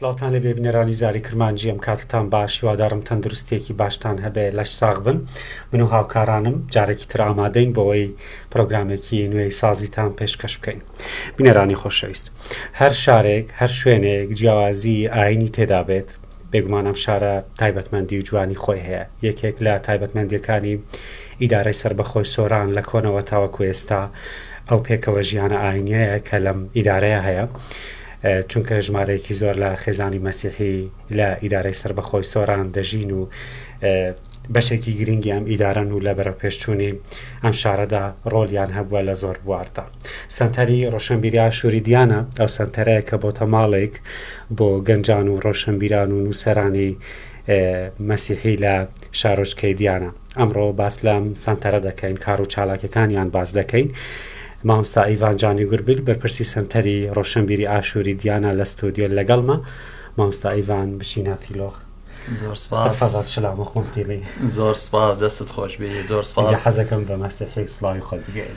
سلاوتان لە بێبنەرانی زاری کرمانجی ئەم کاتتان باش هیوادارم تەندروستێکی باشتان هەبێ لەش ساغ بن من و هاوکارانم جارێکی تر ئامادەین بۆەوەی پرۆگرامێکی نوێی سازیتان پێشکەش بکەین بینەرانی خۆشەویست هەر شارێک هەر شوێنێک جیاوازی ئاینی تێدا بێت بێگومان ئەم شارە تایبەتمەندی و جوانی خۆی هەیە، یەکێک لە تایبەتمەندییەکانی ئیدارەی سەربەخۆی سۆران لە کۆنەوە تاوەکو ئێستا ئەو پێکەوە ژیانە ئاینیەیە کە لەم ئیدارەیە هەیە، چونکە ژمارەیەکی زۆر لە خێزانی مەسیحی لە ئیدارەی سەربەخۆی سۆران دەژین و بەشێکی گرنگی ئەم ئیدارەن و لە بەرەوپێشچوونی ئەم شارەدا ڕۆلیان هەبووە لە زۆر بواردا. سەنتەری ڕۆشەنبیری ئاشووری دیانە ئەو سەنتەرەیە کە بۆتە ماڵێک بۆ گەنجان و ڕۆشەنبیران و نووسەرانی مەسیحی لە شارۆچکەی دیانە ئەمڕۆ باس لەم سەنتەرە دەکەین کار و چالاکەکانیان باس دەکەین مامستا ئیڤان جانی گوربیل بەرپرسی سەنتەری ڕۆشنبیری ئاشووری دیانا لە ستۆدیۆ لەگەڵمە مامستا ئیڤان بشینە تیلۆخ زۆر سپاس سلام خۆم تیلی زۆر سپاس دەست خۆش بێ زۆر سپاس حەزەکەم بە مەسیحی سلاوی خۆ بگەین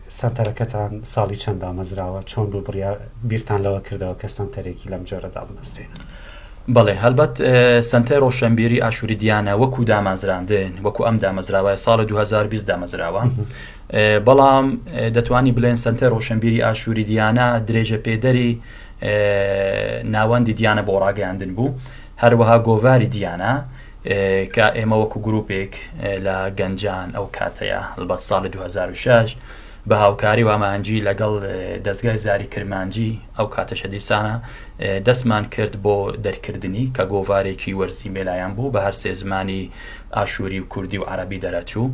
سەنتەرەکەتان ساڵی چەند دامەزراوە؟ چۆن بوو بڕیا بیرتان لەوە کردەوە کە سەنتەرێکی لەم جۆرە دابمەزرێنن؟ بەڵێ هەڵبەت سەنتەر ڕۆشەنبیری ئاشوری دیانە وەکو دامازراندن وەکو ئەم دامەزراوای ساڵە 2020 دامەزراوە بەڵام دەتوانی بلێن سەنتەر ڕۆشەنبیری ئاشوری دیانە درێژە پێدەری ناوەندی دیانە بۆ ڕاگەاندن بوو هەروەها گۆڤاری دیانە کە ئێمە وەکو گروپێک لە گەنجان ئەو کاتەیە هەڵبەت ساڵی 2006 بە هاوکاری و ئامانجی لەگەڵ دەستگای زاری کرمانجی ئەو کاتەشە دیسانە دەستمان کرد بۆ دەرکردنی کە گۆڤارێکی وەرزی مێلایان بوو بە هەر سێ زمانی ئاشووری و کوردی و عەرەبی دەرەچوو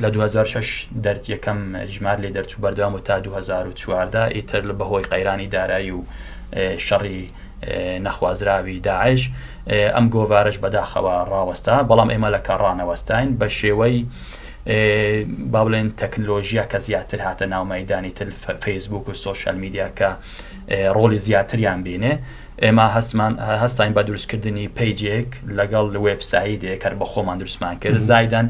لە دوو هەزار و شەش دەرد یەکەم ژمار لێ دەرچوو بەردەوام و تا دوو هەزار و چواردە ئیتر لە بەهۆی قەیرانی دارایی و شەڕی نەخوازراوی داعش ئەم گۆڤارش بەداخەوە ڕاوەستا بەڵام ئێمە لە کاڕانەوەستاین بە شێوەی با بڵێن تەکنلۆژیە کە زیاتر هاتە ناومەدانی تل فەیسبوک و سوۆشال میدیا کە ڕۆڵی زیاتریان بینێ ئێمە هەستمان هەستاین بە دروستکردنی پەیجێک لەگەڵ وێب سایدێک هەر بە خۆمان دروستمان کرد زایدان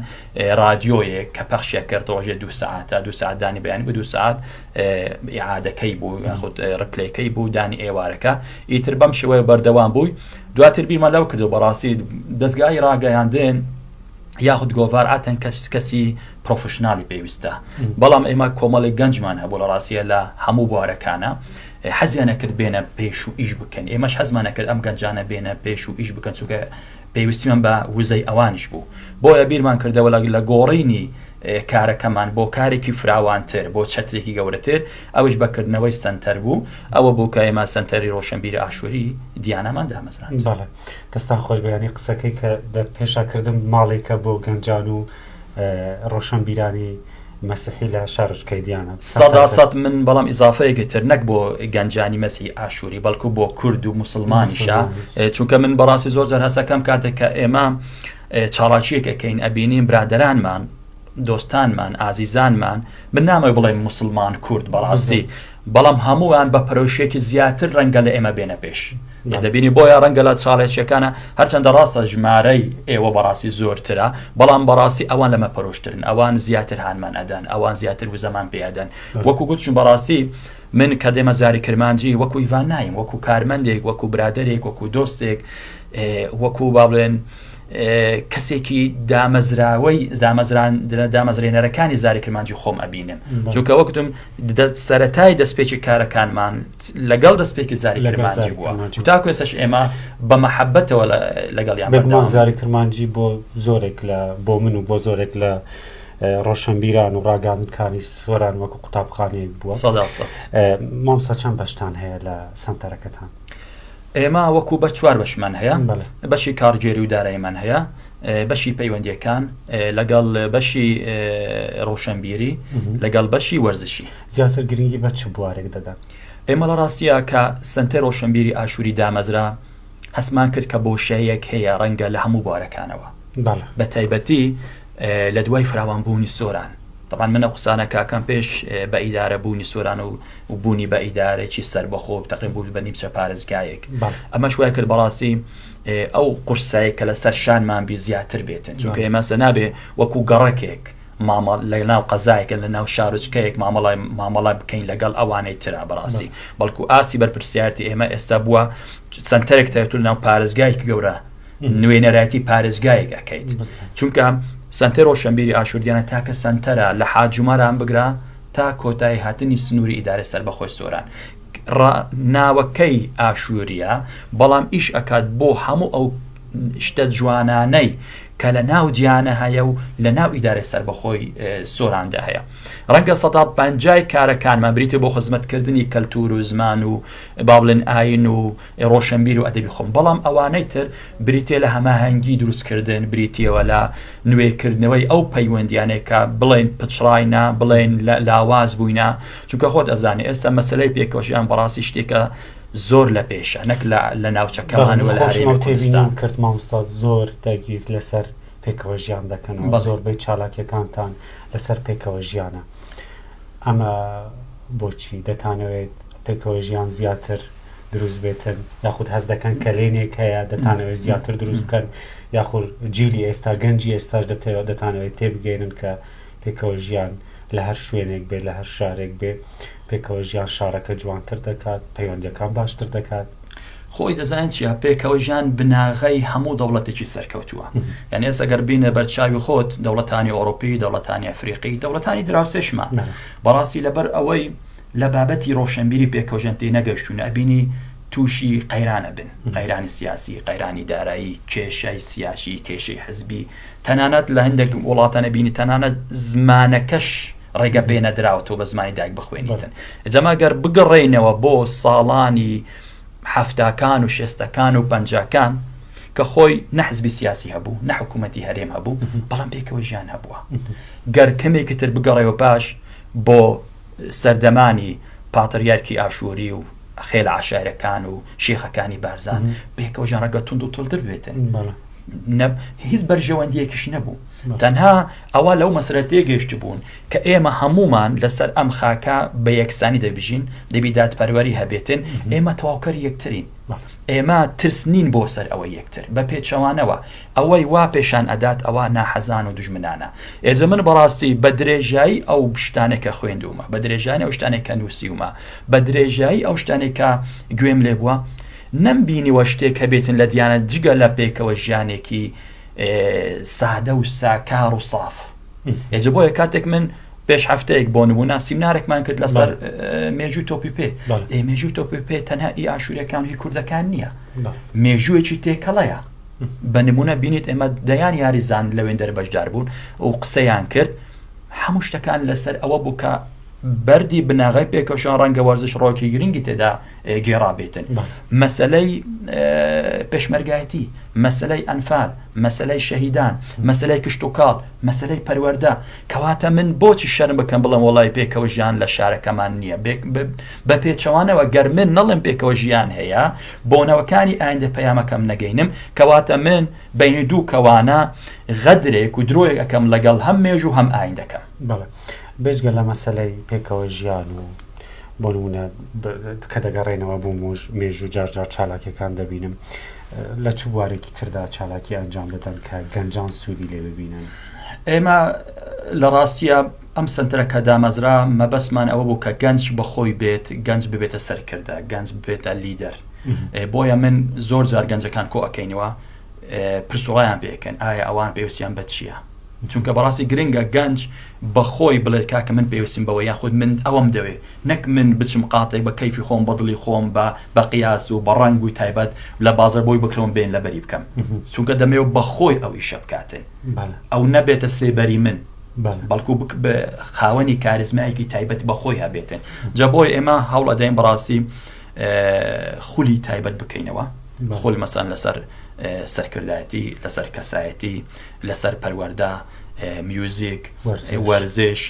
رادیۆیەک کە پەخشێک کرد ڕۆژێ دو ساعتە دو ساعتدانی بەیان بە دو ساعت عادەکەی بوو یاخود ڕپلەکەی بوو دانی ئێوارەکە ئیتر بەم شێوەیە بەردەوام بووی دواتر بیمە لەو کردو بەڕاستی دەستگای ڕاگەیاندن یاخود گۆڤار ئاتەن کەس کەسی پرۆفشننالی پێویستە بەڵام ئێمە کۆمەڵی گەنجمان هەبوو لە ڕاستە لە هەموو بوارەکانە حەزیان ئەکرد بێنە پێش و ئیش بکەن، ئێمەش حەزمان ئەکرد ئەم گەنجانە بێنە پێش و ئیش بکەن چونکە پێویستیمان بە وزەی ئەوانیش بوو، بۆیە بیرمان کردەوە لە گۆڕینی کارەکەمان بۆ کارێکی فراوانتر، بۆ چەترێکی گەورەتر، ئەویش بە کردنەوەی سەنتەر بوو، ئەوە بوو کە ئێمە سەنتەری ڕۆشنبیری ئاشووری دیانامان دامەزراند. بەڵێ دەستان خۆش بێ، یانی قسەکەی کە دەرپێشا کردم ماڵێکە بۆ گەنجان و ڕۆشنبیرانی، مەسیحی لە شارۆچ کەیدیانە. سەدا سەد من بەڵام ئیزافەیەکی تر نەک بۆ گەنجانی مەسی ئاشووری بەڵکو بۆ کورد و مسلمانیشە چونکە من بەڕاستی زۆر جار هەسەکەم کاتێک کە ئێمە چاڵاکیەکەکەین ئەبینین برادرانمان دۆستانمان ئازیزانمان من نامەوە بڵێ مسلمان کورد بەڕاستی بەڵام هەمووان بە پەرۆشێکی زیاتر ڕەنگە لە ئێمە بێنە پێش دەبینی بۆیە ڕەنگە لە چاڵێکیەکانە هەرچەندە ڕاستە ژمارەی ئێوە بەڕاستی زۆرترە بەڵام بەڕاستی ئەوان لەمە پەرۆشترن ئەوان زیاتر هانمان ئەدەن ئەوان زیاتر وزەمان پێدەن وەکو گوتچون بەڕاستی من کە دێمە زاری کرمانجی وەکو هیڤان نایم وەکو کارمەندێک وەکو برادێک وەکو دۆستێک وەکو با بڵێن کەسێکی دامەزراوەی دامەزران دامەزرێنەرەکانی زاری کرمانجی خۆم ئەبینم چونکە وەکتم سەتای دەستپێکی کارەکانمان لەگەڵ دەستپێکی زاری کرمانجی بووە تا کوێسەش ئێمە بە محەبەتەوە لەگەڵ یان بەگومان زاری کرمانجی بۆ زۆرێک لە بۆ من و بۆ زۆرێک لە ڕۆشنبیران و ڕاگەاندکانی سۆران وەکو قوتابخانەیەک بووە مامسا چەند بەشتان هەیە لە سنتەرەکەتان. ئێمە وەکو بە چوار بەشمان هەیە بەشی کارگێری و دارایمان هەیە بەشی پەیوەندیەکان لەگەڵ بەشی ڕۆشنبیری لەگەڵ بەشی وەرزشی زیاتر گرنگی بە چ بوارێک دەدەن ئێمە لە ڕاستە کە سنتەر ڕۆشنبیری ئاشووری دامەزرا هەسمان کرد کە بۆشەیەک هەیە ڕەنگە لە هەموو بوارەکانەوە بە تایبەتی لە دوای فراوانبوونی سۆران تەبعەن من ئەو قسانە کاکەم پێش بە ئیدارە بوونی سۆران و بوونی بە ئیدارەێکی سەربەخۆ و تەقێن بوو بە نیمچە پارێزگایەک ئەمەش وای کرد بەڕاستی ئەو قورسایە کە لەسەر شانمان بی زیاتر بێتن چونکە ئێمەسە نابێ وەکو گەڕەکێک مامەڵ لە ناو قەزایەکە لە ناو شارۆچکەیەک مامەڵای مامەڵا بکەین لەگەڵ ئەوانەی ترا بەڕاستی بەڵکو ئاسی بەرپرسیارتی ئێمە ئێستا بووە سنتەرێک تەتول ناو پارێزگایکی گەورە نوێنەرایەتی پارێزگایەک ئەکەیت چونکە سەنتەر ڕۆشەنبیری ئاشووریانە تاکە سەنتەرە لە حاجوماران بگرە تا کۆتایی هاتنی سنووری ئیدارەی سەربەخۆی سۆران ناوەکەی ئاشووریە بەڵام ئیش ئەکات بۆ هەموو ئەو شتە جوانانەی کە لە ناو دیانە هەیە و لە ناو ئیدارەی سربەخۆی سۆراندا هەیە ڕەنگە سە پنجای کارەکانمان بریتە بۆ خزمەتکردنی کەلتور و زمان و بابلن ئاین و ی ڕۆشنبیر و ئەدەبی خۆم، بەڵام ئەوانەی تر بریتییە لە هەماهەنگی دروستکردن، بریتییەوە لە نوێکردنەوەی ئەو پەیوەندییانەی کە بڵێین پچڕاینە، بڵێین لاواز بووینە، چونکە خۆت ئەزانی ئێستا مەسەلەی پێکەوە ژیان بەڕاستی شتێکە زۆر لە پێشە، نەک لە ناوچەکەمان و لە هەرێمی کوردستان. کرد مامۆستا زۆر دەگیرت لەسەر پێکەوە ژیان دەکەنەوە، زۆربەی چالاکیەکانتان لەسەر پێکەوە ژیانە، ئەمە بۆچی؟ دەتانەوێت پێکەوە ژیان زیاتر. دروست بێتن یاخود هەست دەکەن کەلێنێک هەیە دەتانەوەی زیاتر دروست بکەن یاخور جیلی ئێستا گەنجی ئێستاش دەتەوە دەتانەوەی تێبگەێنن کە پێکەوە ژیان لە هەر شوێنێک بێ لە هەر شارێک بێ پێکەوە ژیان شارەکە جوانتر دەکات پەیوەندەکان باشتر دەکات. خۆی دەزانین چیە پێکەوە ژیان بناغەی هەموو دەوڵەتێکی سەرکەوتووە یان ئێستا گەر بینە بەرچاوی خۆت دەوڵەتانی ئۆرۆپی دەوڵەتانی ئەفریقی دەوڵەتانی دراوسێشمان بەڕاستی لەبەر ئەوەی لە بابەتی ڕۆشەنبیری پێکەوژێن تێنەگەشتوون ئەبینی تووشی قەیران ئەبن قەیرانی سیاسی قەیرانی دارایی کێشەی سیاسی کێشەی حزبی تەنانەت لە هەندێک وڵاتان ئەبینی تەنانەت زمانەکەش ڕێگە پێ نەدراوە تۆ بە زمانی دایک بخوێنیتن جەما گەر بگەڕێینەوە بۆ ساڵانی حەفتاکان و شێستەکان و پەنجاکان کە خۆی نەحزبی سیاسی هەبوو نە حکوومەتتی هەرێم هەبوو بەڵام پێکەوە ژیان هەبووە گەر کەمێکی تر بگەڕێەوە پاش بۆ سەردەمانی پاتریارکی ئاشووری و خێلە عەشایرەکان و شێخەکانی بارزان پێکەوە ژەڕەگە تونند و تۆلتر بێتن هیچ بەرژەوەندیەکیش نەبوو تەنها ئەوە لەو مەسرەت تێگەشت بوون کە ئێمە هەمومان لەسەر ئەم خاکە بە یەکسانی دەبژین دەبی دادپەروەری هەبێتن ئێمە تەواوکەر یەکترین ئێمە ترس نین بۆ سەر ئەوە یەکتر بە پێچەوانەوە ئەوەی وا پێشان ئەدات ئەوە ناحەزان و دوژمنانە. ئێجە من بەڕاستی بە درێژایی ئەو شتانەی کە خوێندوومە، بە درێژانی ئەو شتانەی کە نووسیومە، بە درێژایی ئەو شتانەی کە گوێم لێ بووە، نەمبینیوە شتێک هەبێتن لە دیانەت جگە لە پێکەوە ژیانێکی سادە و ساکار و ساف. ئێجە بۆیە کاتێک من پێش هەفتەیەک بۆ نموونە سیمنارێکمان کرد لەسەر مێژووی تۆپی پێ مێژووی تۆپی پێ تەنها ئی ئاشوورەکان و هی کوردەکان نییە مێژوویەکی تێکەڵەیە. بە نمونە بینیت ئێمە دەیان یاریزان لە وێندەر بەشدار بوون و قسەیان کرد هەموو شتەکان لەسەر ئەوە بوو کە بەری بناغی پێکەشان ڕەنگە وەرزش ڕۆکی گرنگی تێدا گێڕابێتن مەسلەی پێشمەرگایەتی مەسلەی ئەنفال مەسلەی شەهیدان مەسلەی کشت و کاڵ مەسلەی پەروەەردە کەواتە من بۆچی شەرم بکەم بڵم وڵی پێکەوە ژیان لە شارەکەمان نییە بە پێچەوانەوە گەر من نەڵم پێکەوە ژیان هەیە بۆ نەوەکانی ئایندە پەیامەکەم نەگەینم کەواتە من بەینی دوو کەوانە غەدرێک و درۆیەک ئەکەم لەگەڵ هەم مێژوو و هەم ئایندەکەم. بەڵێ بێجگە لە مەسەلەی پێکەوە ژیان و بۆ نموونە کە دەگەڕێینەوە بۆ مێژوو جار جار چالاکیەکان دەبینم لە چ بوارێکی تردا چالاکی ئەنجام دەدەن کە گەنجان سوودی لێ ببینن ئێمە لە ڕاستە ئەم سەنتەرە کە دامەزرا مەبەستمان ئەوە بوو کە گەنج بە خۆی بێت، گەنج ببێتە سەرکردە، گەنج ببێتە لیدەر. بۆیە من زۆر جار گەنجەکان کۆ ئەکەینەوە پرس و ڕایان پێ ئەکەین ئایا ئەوان پێوستیان بە چییە؟ چونکە بەڕاستی گرنگە گەنج بە خۆی بڵێت کاکە من پێوستیم بەوە یاخود من ئەوەم دەوێ نەک من بچم قاتێک بە کەیفی خۆم بە دڵی خۆم بە بە قیاس و بە ڕەنگ و تایبەت لە بازەر بۆی بکڕم بێن لەبەری بکەم چونکە دەمەوێ بە خۆی ئەو ئیشە بکاتن ئەو نەبێتە سێبەری من. بەڵکو خاوەنی کاریزمایەکی تایبەت بە خۆی هەبێتن جا بۆی ئێمە هەوڵ ئەدەین بەڕاستی خولی تایبەت بکەینەوە خۆل مەسان لەسەر سەرکردایەتی لەسەر کەسایەتی لەسەر پەروەەردا میوزیک وەرزش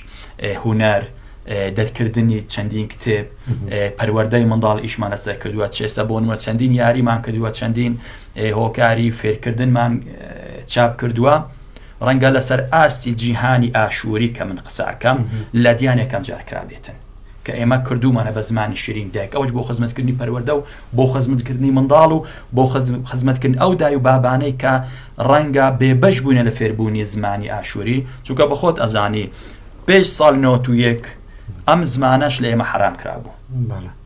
هوەر دەرکردنی چەندین کتێب پەروەەردەی منداڵ ئیشمان لەسەر کردووە چێسە بۆ نوە چەندین یاریمان کردووە چەندین هۆکاری فێرکردنمان چاپ کردووە ڕەنگە لەسەر ئاستی جیهانی ئاشووری کە من قسە ئەکەم لە دیان یەکەم جار کرابێتن کە ئێمە کردوومانە بە زمانی شیرینی دایک ئەوەش بۆ خزمەتکردنی پەروەردە و بۆ خزمەتکردنی منداڵ و بۆ خزمەتکردن ئەو دای و بابانەی کە ڕەنگە بێبەش بوونە لە فێربوونی زمانی ئاشووری چونکە بەخۆت ئەزانی پێش ساڵ نۆتویەک ئەم زمانەش لە ئێمە حەرام کرابوو.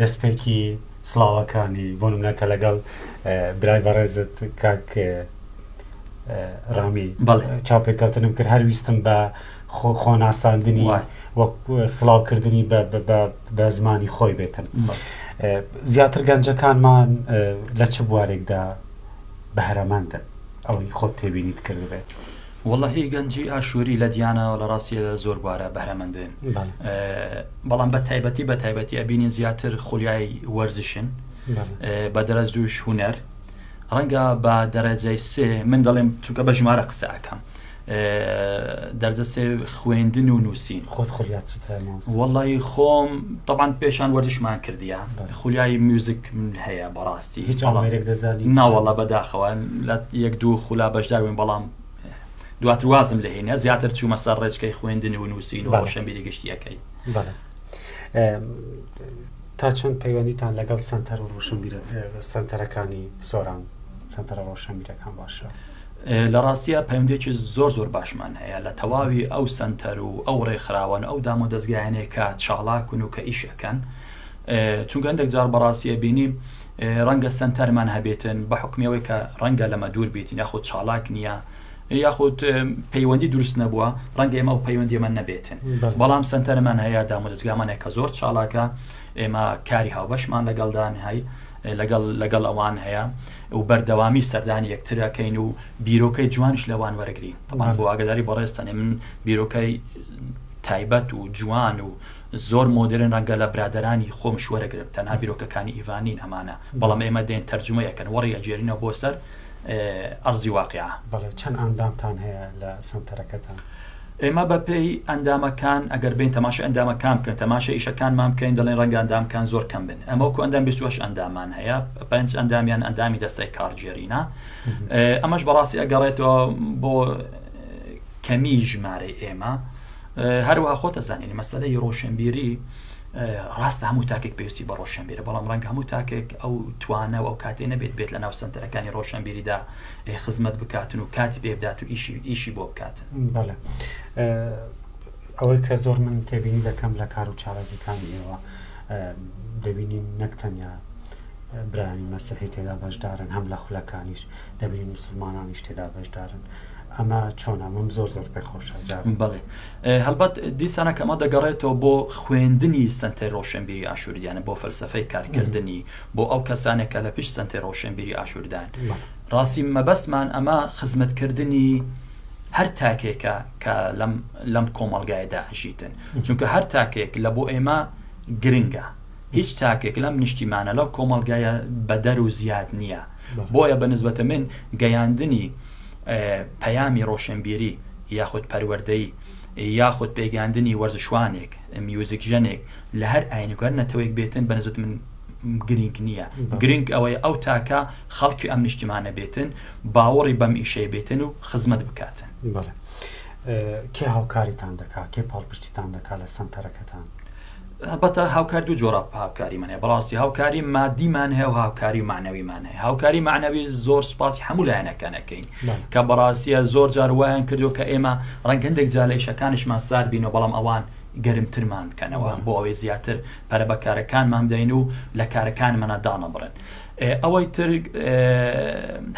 دەستپێکی سڵاوەکانی بۆ نمونە کە لەگەڵ برای بەڕێزت کاک ڕامی چاوپێکەوتنم کرد هەر ویستم بە خۆناساندنی وەک سڵاوکردنی بە زمانی خۆی بێتم زیاتر گەنجەکانمان لە چ بوارێکدا بەهرەمەندن ئەوەی خۆت تێبینیت کردبێت. وەڵا هی گەنجی ئاشوری لە دیانا و لە ڕاستی لە زۆر بوارە بەرەمەندێن بەڵام بە تایبەتی بە تایبەتی ئەبینین زیاتر خولیای وەرزشن بە دەرەز دووش هوەر ڕەنگە بە دەرەجەی سێ من دەڵێم چونکە بە ژمارە قسە ئەەکەم دەرجە سێ خوێندن و نووسین. خۆت خولیات چت هەیە مامۆستا؟ وەڵڵایی خۆم تەبعەن پێشان وەرزشمان کردیە، بەڵێ. خولیای میوزیک هەیە بەڕاستی. هیچ ئامێرێک دەزانی؟ نا وەڵڵا بەداخەوە لە یەک دوو خولا بەشدار بووین بەڵام دواتر وازم لێ هێنا زیاتر چوومە سەر ڕێچکەی خوێندن و نووسین و بەڵێ. ڕۆشنبیری گشتییەکەی. بەڵێ. تا چەند پەیوەندیتان لەگەڵ سەنتەر و ڕۆشنبیرە سەنتەرەکانی سۆران سەنتەرە ڕۆشنبیرەکان باشە؟ لە ڕاستیا پەیوەندیەکی زۆر زۆر باشمان هەیە لە تەواوی ئەو سەنتەر و ئەو ڕێکخراوان ئەو دام و دەزگایانەی کە چاڵاکن و کە ئیش ئەکەن چونکە هەندێک جار بەڕاستیە بینی ڕەنگە سەنتەرمان هەبێتن بە حکمیەوەی کە ڕەنگە لەمە دوور بیتن یاخود چاڵاک نییە یاخود پەیوەندی دروست نەبووە ڕەنگە ئێمە و پەیوەندیمە نەبێتن بەڵام سنتەرمان هەیە دامودەزگامانێک کە زۆر چاڵاکە ئێمە کاری هاوبەشمان لەگەڵدان هەی لەگەڵ لەگەڵ ئەوان هەیە و بەردەوامی سەردانی یەکتر ئەکەین و بیرۆکەی جوانیش لەوان وەرەگرین تەبان بۆ ئاگەداری بەڕێزتانێ من بیرۆکەی تایبەت و جوان و زۆر مۆدرن ڕەنگە لە برادرانی خۆم شوەرەگرم تەنها بیرۆکەکانی ئیڤانین ئەمانە بەڵام ئێمە دێن تەرجمە یەکەن وەڕی ئەجێرینە بۆ سەر ئەرزی واقع بەڵێ چەند ئاندامتان هەیە لە سەنتەرەکەتان ئێمە بە پێی ئەندامەکان ئەگەر بێین تەماشای ئەندامەکان بکەن تەماشای ئیشەکانمان بکەین دەڵێن ڕەنگە ئەندامکان زۆر کەم بن ئەمە وەکو ئەندام بیست و هەشت ئەندامان هەیە پێنج ئەندامیان ئەندامی دەستەی کارگێرینە ئەمەش بەڕاستی ئەگەڕێتەوە بۆ کەمی ژمارەی ئێمە هەروە خۆتە زانینی مەسلەی ڕۆشنبیری ڕاستە هەموو تاکێک پێویستی بە ڕۆشنبیرە بەڵام ڕەنگ هەموو تاکێک ئەو توانە و ئەو کاتێ نەبێت بێت لە ناو سنتەرەکانی ڕۆشنبیریدا پێ خزمەت بکاتن و کاتی پێ بدات و ئیشی ئیشی بۆ بکاتن بەڵێ ئەوەی کە زۆر من تێبینی دەکەم لە کار و چالاکیەکانی ئێوە دەبینین نەک تەنیا برانی مەسیحی تێدا بەشدارن هەم لە خولەکانیش دەبینین مسلمانانیش تێدا بەشدارن ئەمە چۆن ئەمەم زۆر زۆر پێ خۆشە جارم بڵێ هەڵبەت دیسانە کەمە دەگەڕێتەوە بۆ خوێندنی سنتەر ڕۆشنبیری ئاشووریانە بۆ فەلسفەی کارکردنی بۆ ئەو کەسانە کە لە پشت سەنتەی ڕۆشنبیری ئاشووردان ڕاستی مەبەستمان ئەمە خزمەتکردنی هەر تاکێکە کە لەم کۆمەلگایدا ئەژیتن چونکە هەر تاکێک لە بۆ ئێمە گرنگە هیچ تاکێک لەم نیشتیمانە لەو کۆمەلگایە بەدەر و زیاد نییە بۆیە بە نسبەتە من گەیاندنی پەیامی ڕۆشنبیری یاخود پەروەردەی یاخود پێگەاندنی وەرزشوانێک میوزیک ژەنێک لە هەر ئاینێک و هەر نەتەوەیەک بێتن بە نسبەت من گرینگ نییە گرینگ ئەوەیە ئەو تاکە خەڵکی ئەم نیشتیمانە بێتن باوەڕی بەم ئیشەی بێتن و خزمەت بکاتن بەڵێ کێ هاوکاریتان دەکات کێ پاڵپشتیتان دەکات لە سەنتەرەکەتان هەبەتە هاوکاری دوو جۆرا هاوکاری منێ بەڕاستی هاوکاری مادیمان هەیە و هاوکاری و معنەویمان هەیە هاوکاری معنەوی زۆر سپاسی هەموو لایەنەکانەکەین کە بەڕاستە زۆر جار وایان کردو کە ئێمە ڕەنگەندێک جا لە ئیشەکانیشمان سارد بینەوە بەڵام ئەوان گەرمترمان بکەنەوە بۆ ئەوەی زیاتر پەرە بە کارەکانمان بدەین و لە کارەکانمانا دانەبڕێن ئەوەی تر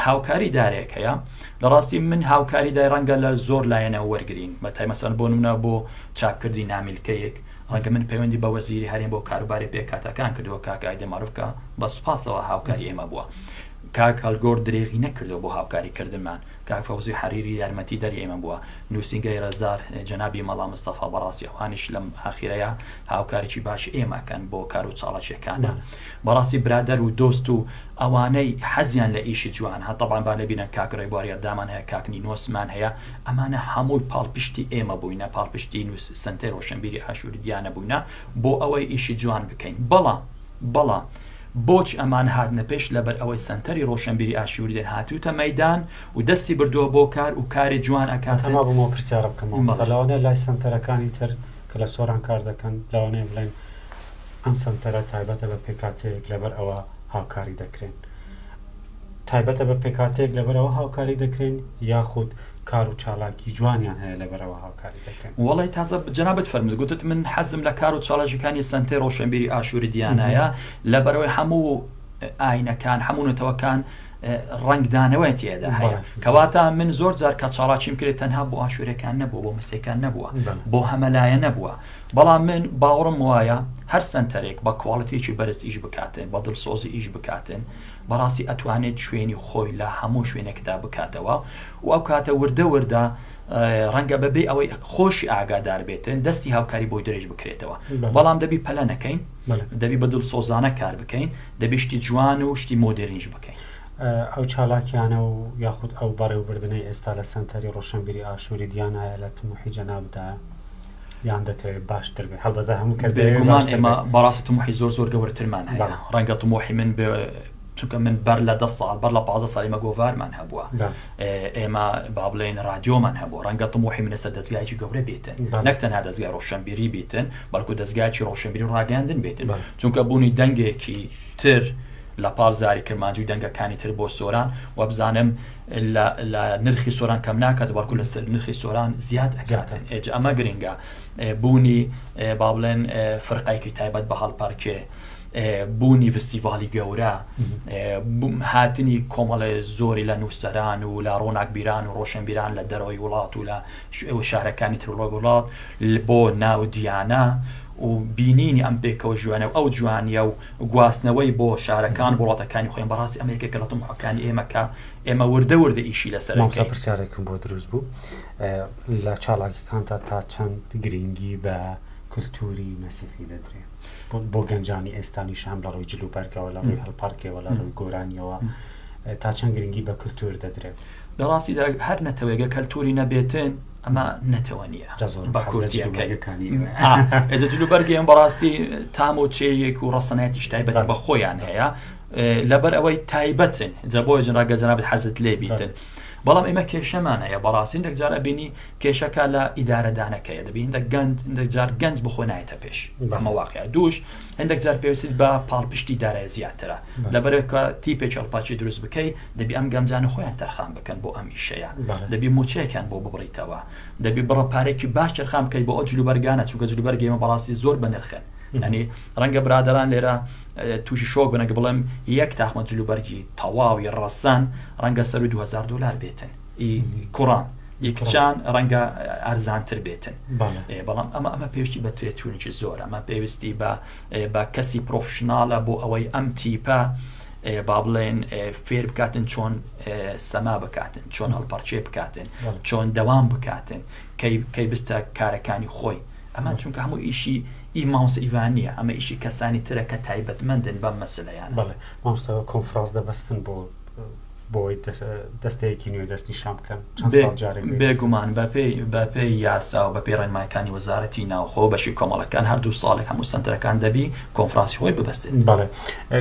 هاوکاری دارێک هەیە لە ڕاستی من هاوکاری دای ڕەنگە لە زۆر لایەنە وەرگین بە تایمەسەر بۆ نمونە بۆ چاپکردی نامیلکەیەک ڕەنگە من پەیوەندی بە وەزیری هەرێم بۆ کاروباری پێکاتەکان کردووە کاکایدە مەروفکە بە سوپاسەوە هاوکاری ئێمە بووە کاک هەلگۆر درێغی نەکردو بۆ هاوکاری کردنمان کاک فەوزی حەریری یارمەتی دەری ئێمە بووە نوسینگەی رەزدار جەنابی مەڵا مستەفا بەڕاستی ئەوانیش لەم ئاخیرەیا هاوکاریی باشی ئێمە ئەکەن بۆ کارو چاڵاکیەکانە بەڕاستی برادەر و دۆست و ئەوانەی حەزیان لە ئیشی جوان هە تەبعەن با لەبیرنەن کاک رێبوار یەردامان هەیە کاک نینۆس مان هەیە ئەمانە هەمووی پاڵپشتی ئێمە بووینە پاڵپشتی نوس سەنتەی رۆشەنبیری ئاشوری دیانە بووینە بۆ ئەوەی ئیشی جوان بکەین بەڵام بەڵام بۆچی ئەمان هاتنە پێش لەبەر ئەوەی سەنتەری ڕۆشەنبیری ئاشووری دێن هاتووتە مەیدان و دەستی بردووە بۆ کار و کاری جوان ئەکاتن. تەما بووم ئەو پرسیارە بکەم مامۆستا، لەوانەیە لای سەنتەرەکانی تر کە لە سۆران کار دەکەن لەوانەیە بڵێن ئەم سەنتەرە تایبەتە بە پێکهاتەیەک لەبەر ئەوە هاوکاری دەکرێن، تایبەتە بە پێکهاتەیەک لەبەرەوە هاوکاری دەکرێن یاخود کار و چالاکی جوانیان هەیە لەبەرەوە هاوکاری دەکرێن؟ وەڵای تازە جەنابت فەرمووت گوتت من حەزم لە کار و چالاکیەکانی سەنتەی ڕۆشەنبیری ئاشوری دیانایە لەبەرەوەی هەموو ئاینەکان هەموو نەتەوەکان ڕەنگدانەوەی تێدا هەیە کەواتە من زۆر جار کە چاڵاچیم کرێت تەنها بۆ ئاشورەکان نەبوو بۆ مسیەکان نەبووە بۆ هەمەلایە نەبووە بەڵام من باوەڕم وایە هەر سەنتەرێک بە کواڵتێکی بەرز ئیش بکاتێن بە دڵسۆزی ئیش بکاتێن بەڕاستی ئەتوانێت شوێنی خۆی لە هەموو شوێنێکدا بکاتەوە و ئەو کاتە وردە وردە ڕەنگە بەبێ ئەوەی خۆشی ئاگادار بێت دەستی هاوکاری بۆی درێژ بکرێتەوە بەڵام دەبی پەلە نەکەین دەبی بە دڵسۆزانە کار بکەین دەبی شتی جوان و شتی مۆدێرنیش بکەین. ئەو چالاکیانە و یاخود ئەو بەڕێوبردنەی ئێستا لە سەنتەری ڕۆشنبیری ئاشووری دیانایە لە تموحی جەنابتایە؟ یان دەتەوێت باشتر بێت هەڵبەتە هەموو کەس بێگومان ئێمە بەڕاستی تموحی زۆر زۆر گەورەترمان هەیە ڕەنگە تموحی من چونکە من بەر لە دە ساڵ بەر لە پازە ساڵی مەگۆڤارمان هەبووە ئێمە با بڵێن رادیۆمان هەبوو ڕەنگە تموحی منەسە دەستگایکی گەورە بێتن نەک تەنها دەستگای ڕۆشنبیری بیتن بەڵکو دەستگایکی ڕۆشنبیری ڕاگەاندن بێتن چونکە بوونی دەنگێکی تر لە پاڵ زاری کرمانجی و دەنگەکانی تر بۆ سۆران وەبزانم اللە لە نرخی سۆران کەم ناکات بەڵکو لە نرخی سۆران زیاد ئەکاتن ئێجا ئەمە گرنگە بوونی با بڵێن فرقایکی تایبەت بە هەڵپەرکێ بوونی فستیڤالی گەورە هاتنی کۆمەڵێ زۆری لە نووسەران و لە ڕۆناکبیران و ڕۆشنبیران لە دەرەوەی وڵات و لە شارەکانی ترڵۆ وڵات بۆ ناو دیانە و بینینی ئەم پێکەوە ژوانە و ئەو جوانیە و گواستنەوەی بۆ شارەکان بۆ وڵاتەکانی خۆیان بەڕاستی ئەمە یەکێکە لە تەموحەکانی ئێمە کە ئێمە وردە وردە ئیشی لەسەر ئەکەین. مامۆستا پرسیارێکم بۆ دروست بوو لە چالاکیەکانتا تا چەند گرنگی بە کلتوری مەسیحی دەدرێ بۆ گەنجانی ئێستانیش هەم لە ڕووی جلوبەرگەوە لە ڕووی هەڵپەڕکێوە لە ڕووی گۆرانیەوە تا چەند گرنگی بە کلتور دەدرێت؟ لە ڕاستیدا هەر نەتەوەێگە کەلتوری نەبێتن ئەمە نەتەوە نیە بە کوردیەکەی جلو بەرگێن بەڕاستی تام و چێیەک و ڕسەنایەتیش تایبەت بە خۆیان هەیە لەبەر ئەوەی تایبەتن جە بۆ جنراگە جناب حەزت لێ بیتن. بەڵام ئێمە کێشەمانەیە بەڕاستین دەجار ئەبینی کێشەکە لە ئیدارەدانەکەیە دەبین دە گەند دەجار گەنج بخۆ نایەتە پێش بەمەواقع دوش هەندێک جار پێویستت بە پاڵپشتی دارای زیاترە، لەبەرئەوەی کە تیپێکی ئەڵپاچی دروست بکەیت، دەبی ئەم گەنجانە خۆیان تەرخان بکەن بۆ ئەم ئیشەیە، دەبی مووچەیەکیان بۆ ببڕیتەوە، دەبی بڕە پارەیەکی باش تەرخان بکەیت بۆ ئەو جلوبەرگانە، چونکە جلوبەرگی ئێمە بەڕاستی زۆر بەنرخن، یانی ڕەنگە برادەران لێرە تووشی شۆک بن ئەگەر بڵێم یەک تاقمە جلوبەرگی تەواوی ڕەسەن ڕەنگە سەرووی دوو هەزار دۆلار بێتن. ئی کوڕان ئی کچان ڕەنگە ئەرزانتر بێتن بەڵام ئەمە ئەمە پێویستی بە تێچوونێکی زۆر ئەمە پێویستی بە بە کەسی پرۆفشنناڵە بۆ ئەوەی ئەم تیپە با بڵێن فێر بکاتن چۆن سەما بکاتن چۆن هەڵپەرچێ بکاتن چۆن دەوام بکاتن کەی بستە کارەکانی خۆی ئەمە چونکە هەموو ئیشی ئی ماوس ئیڤانە ئەمە ئیشی کەسانی ترە کە تایبەتمەندن بەم مەسلیان بڵێ مامستەوە کۆنفرانس دەبەستن بۆ بۆی دەستەیەکی نوێ دەست نیشان بکەن چەند ساڵ جارێک دەیبەزن. بێگومان بەپێی بەپێی یاسا و بەپێی ڕێنمایەکانی وەزارەتی ناوخۆ بەشی کۆمەڵەکان هەردوو ساڵێک هەموو سەنتەرەکان دەبی کۆنفرانسی خۆی ببەستێت بەڵێ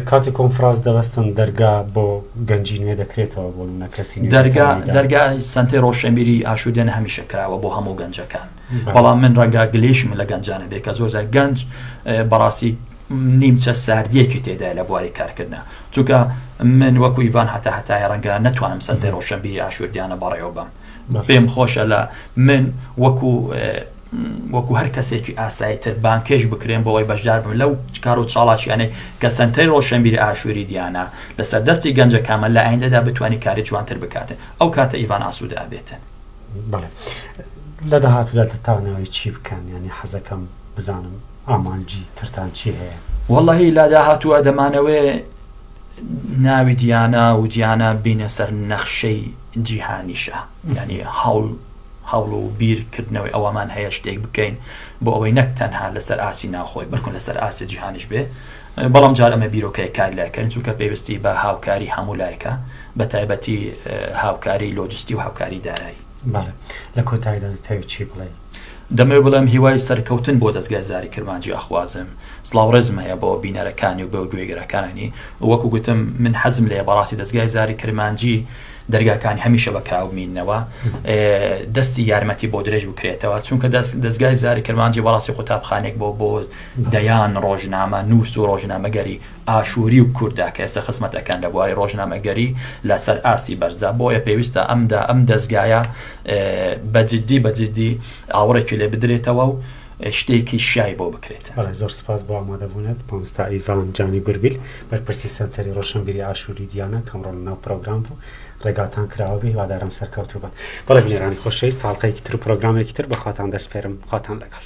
کاتی کۆنفراس دەبەستن دەرگا بۆ گەنجی نوێ دەکرێتەوە بۆ منە کەسی نوێ دەرگا دەتوانێت دا. دەرگا سەنتەی ڕۆشنبیری ئاشوودێن هەمیشە کراوە بۆ هەموو گەنجەکان بەڵێ. بەڵام من ڕەنگە گلەیشم لە گەنجانە بێ کە زۆر جار گەنج اه، بەڕاستی نیمچە ساردیەکی تێدایە لە بواری کارکردنا چونکە من وەکو ئیڤان هەتا هەتایە ڕەنگە نەتوانم سەنتەی ڕۆشنبیری ئاشوردیانە بەڕێوە بەم پێم خۆشە لە من وەکو وەکو هەر کەسێکی ئاسایی تر بانکێش بکرێن بۆەوەی بەشدار بن لەو کار و چاڵاکیانەی کە سنتەی ڕۆشنبیری ئاشووری دیانە لەسەر دەستی گەنجە کامە لە ئایندەدا بتانی کاری جوانتر بکاتن ئەو کاتە ئیڤان ئاسوود ئابێتن لە داهاتوودا دەتوانەوەی چی بکەن ینی حەزەکەم بزانم ئامانجی ترتان چی هەیە؟ وەڵاهی لا داهاتووە دەمانەوێ ناوی دیانا و دیانا بینە سەر نەخشەی جیهانیشە ینی هەوڵ هەوڵ و بیرکردنەوەی ئەوەمان هەیە شتێک بکەین بۆ ئەوەی نەک تەنها لەسەر ئاسی ناخۆی بەکن لەسەر ئاسی جیهانیش بێ بەڵام جار ئەمە بیرۆکەیە کار لایکەن چونکە پێویستی بە هاوکاری هەموو لایەکە بە تایبەتی هاوکاری لۆجستی و هاوکاری دارایی لە کۆتاییدا دەتەوێت چی بڵێن؟ دەمەوێت بڵێم هیوای سەرکەوتن بۆ دەزگای زاری کرمانجی ئەخوازم، سڵاو ڕێزم هەیە بۆ بینەرەکانی و بۆ گوێگرەکانی، وەکو گوتم من حەزم لێیە بەڕاستی دەزگای زاری کرمانجی دەرگاکانی هەمیشە بە کراو بمیننەوە دەستی یارمەتی بۆ درێژ بکرێتەوە چونکە دەزگای زاری کرمانجی بەڕاستی قوتابخانێک بۆ بۆ دەیان ڕۆژنامە نووس و ڕۆژنامەگەری ئاشووری و کووردا کە ئێستا خزمەتەکان لە بواری ڕۆژنامەگەری لەسەر ئاستی بەرزە بۆیە پێویستە ئەمدا ئەم دەزگایە بە جدی بە جدی ئاوڕێکی لێ بدرێتەوە و شتێکی شای بۆ بکرێت بەڵێ زۆر سپاس بۆ ئامادەبوونت مامستا ئیڤان جانی گوربیل بەرپرسی سەنتەری ڕۆشنبیری ئاشووری دیانە کەم ڕۆڵ ناو پرۆگرام بوو ڕێگاتان کراوە بێ هیوادارم سەرکەوتوو بن بەڵێ بنێرانی خۆشەویست تاڵقەیەکی تر و پرۆگرامێکی تر بەخواتان دەسپێرم خواتان لەگەڵ